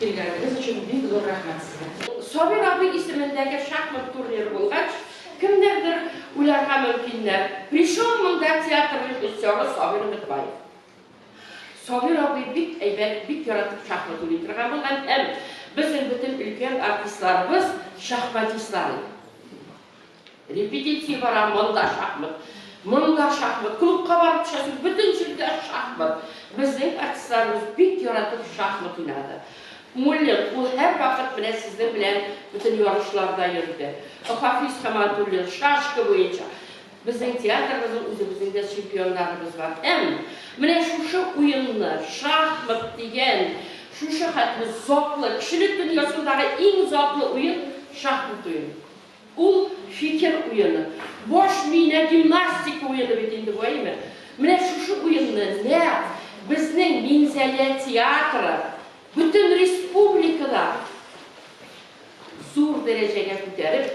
Килгәнегез өчен бик зур рәхмәт сезгә! Сабир абый исемендәге шахмат турниры булгач, кемнәрдер уйларга мөмкиннәр, причем монда театр режиссеры Сабир Өметбаев. Сабир абый бик әйбәт, бик яратып шахмат уйный торган булган һәм безнең бөтен өлкән артистларыбыз шахматистлар иде. Репетиция бара, монда шахмат, монда шахмат, клубка барып төшәсең, бөтен җирдә шахмат. Безнең артистларыбыз бик яратып шахмат уйнады. Муллин, ул һәрвакыт менә сезнең белән бөтен ярышларда йөрде. Хафиз Хаматуллин, шашка буенча. Безнең театрыбызның үзебезнең дә чемпионнарыбыз бар. Һәм менә шушы уенны, шахмат дигән шушы хәтле затлы, кешелек дөньясындагы иң затлы уен, шахмат уены. Ул, фикер уены. Баш миенә гимнастика уены бит инде бу, әйеме? Менә шушы уенны нәкъ безнең Минзәлә театры бөтен республикада зур дәрәҗәгә күтәреп,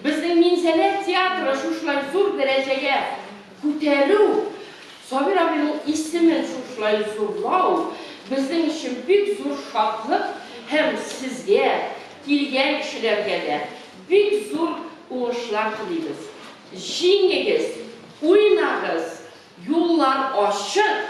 безнең Минзәлә театры шушылай зур дәрәҗәгә Күтәрү, Сабир абыйның исемен шушылай зурлау безнең өчен бик зур шатлык һәм сезгә, килгән кешеләргә дә бик зур уңышлар телибез. Җиңегез, уйнагыз, юллар ачык!